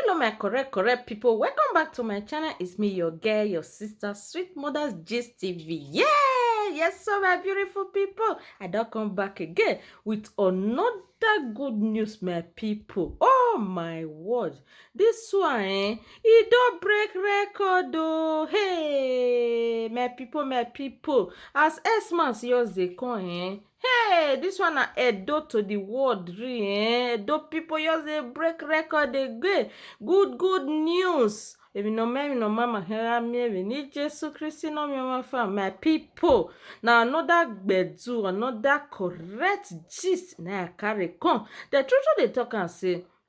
hello my correct correct people welcome back to my channel it's me your girl your sister sweet mother's gist tv yeah yes so my beautiful people i don't come back again with another good news my people oh my word this one eh it don't break record oh hey my people my people as x-man yours they come eh Hey, this one na Edo to the world, really. Eh? Edo people just dey break record again. Good, good news. If you know me, you know mama, here me, if you need Jesus Christ, you know me, my fam, my people. Now another gbedu, another correct gist. Now I carry come. The truth they talk and say,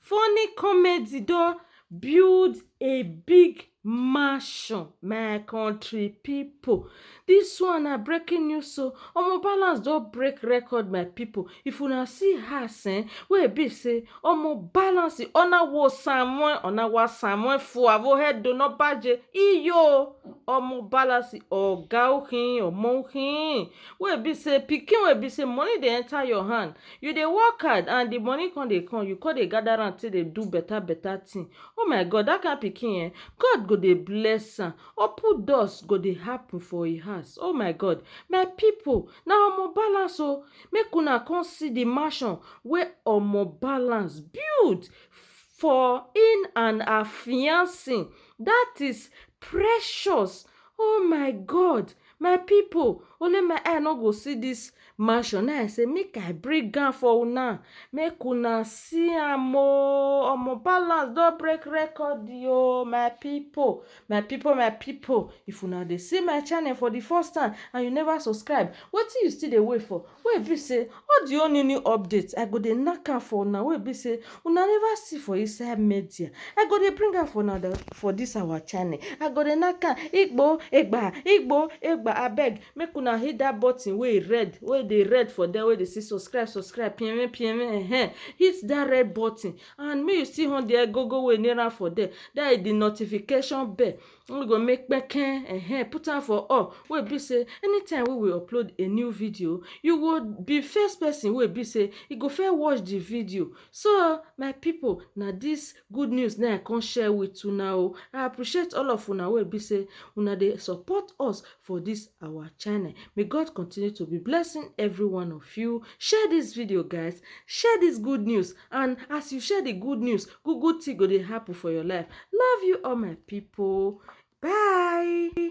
Funny comedy don build a big mansion my country people this one na breaking news o omo balance don break record my people if una see house um wey e be say omo balance ona wo samoe ona wa samoe fua wo he do no baje iyo omo balance oga o hin omo hin wey e be say pikin wey e be say money dey enter your hand You dey work hard and the money come dey come, you come dey gather am take dey do better better thing. Oh my God! Dat kind pikin ehn, God go dey bless am. Open doors go dey happen for im house. Oh my God! My pipu, na Omo Balance oh! Make una come see the mansion wey Omo Balance build for im and her fiance. Dat is Precious. Oh my God! my people only my eye no go see this mansion na i say make i bring am for una make una see am oo omo balance don break record oo my people my people my people if una dey see my channel for the first time and you never subscribe wetin you still dey wait for Wey be say all the whole new new update I go dey nack am for una wey be say una never see for inside media I go dey bring am for una for this our channel I go dey nack am igbo egba igbo egba abeg make una hit that button wey red wey dey red for there wey dey say subscribe subscribe pienwen pienwen ehen hit that red button and make you still on the agogo wey near am for there that is the notification bell we go make kpeke um put am for up wey be sey anytime wey we upload a new video you go be first person wey be sey e go first watch the video so my people na this good news na i come share with una o i appreciate all of una wey be sey una dey support us for this our channel may God continue to be blessing every one of you share this video guys share this good news and as you share the good news good good thing go dey happen for your life love you all my people bye